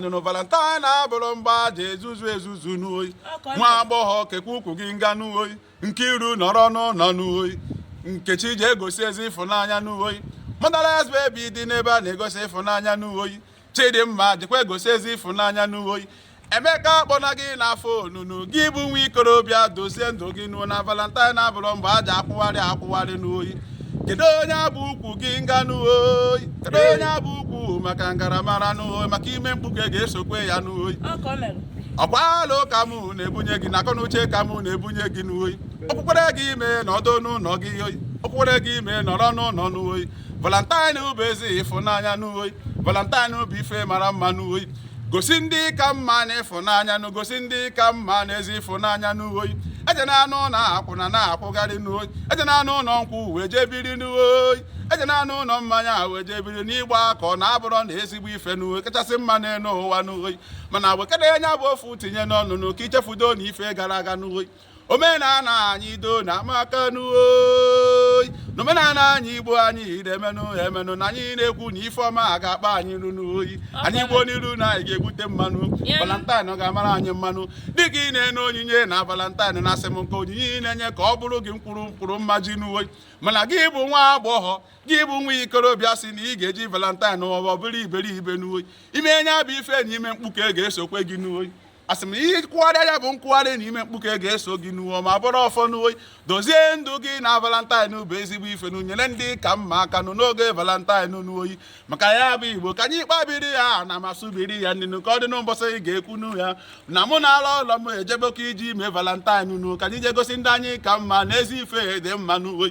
nụnụ valentine abụrọ mgbe e ji ezuzu ezuzu n'oyi nwa agbọghọ kekwa ukwu gị nga n'oyi nkiru nọrọ n'ụlọ n'oyi nkechi je gosi ezi ịfụnanya n'oyi motherless baby dị n'ebe a na-egosi ịfụnanya n'oyi chidimma dịkwa egosi ezi ịfụnanya n'oyi emeka akpọna gị na afọ onunu gị bụ nwa ikorobịa dozie ndụ gị nuo na valentine abụrọ mgbe e ji akwụgharị akwụgharị n'oyi kedo nya bụ ukwu gị nga nụ oyi kedo nya bụ ukwu maka ngaramara n'oyi maka ime mkpuke ga-esokwe ya n'oyi ọkwa alo ka m na-ebunye gị na akọnuche ka m na-ebunye gị n'oyi okpukpere gị ime nọdụ n'ụlọ gị oyi okpukpere gị ime nọrọ n'ụlọ n'oyi valentine bụ ezi ịfụnanya n'oyi valentine bụ ife mara mma n'oyi gosi ndị ị ka mma nụ ịfụnanya nụ gosi ndị ị ka mma nụ ezi ịfụnanya n'uhoyi ejenanụ na akwụna na-akwụgharị n'uhoyi ejenanụ ụlọ nkwụ wee jee biri n'uhoyi ejenanụ ụlọ mmanya wee jee biri n'ịgba akwụna abụrọ nụ ezigbo ife n'uhoyi kachasị mma n'elu ụwa n'uhoyi mana wekene nya bụ ofu tinye n'ọnụ nụ ka i chefudo nụ ife gara aga n'uhoyi omenala anyị do na amaka n'oyi n'omenala anyị igbo anyị na-emenụ emenụ na anyị na-ekwu na ife ọma a ga-akpa anyị nụ n'oyi anyị gbuo n'iru na anyị ga-egbute mma nụ valentine ọ ga-amara anyị mma nụ dịka ị na-enye onyinye na valentine na asị m nke onyinye ị na-enye ka ọ bụrụ gị mkpụrụ mkpụrụ mmaji n'oyi mana gị bụ nwa agbọghọ gị bụ nwa ikorobịa si na ị ga-eji valentine ma ọ bụrụ iberibe n'oyi i mee nya bụ ife na ime mkpuke ga-esokwe gị n'oyi asị m ị kwụgharịa ya bụ nkwụgharị na ime mkpuke ga-eso gị nụ o ma bụrụ ọfọ n'oyi dozie ndụ gị na valentine bụ ezigbo ife nụ nyere ndị ị ka mma aka nụ n'oge valentine n'oyi maka ya bụ igbo ka anyị kpabiri ya na m asụbiri ya nịnụ ka ọ dị nụ mbọsị a ga-ekwunu ya na mụ na-ala ụlọ m ejebekọ iji mee valentine nụ ka anyị je gosi ndị anyị ka mma nụ ezi ife dị mma n'oyi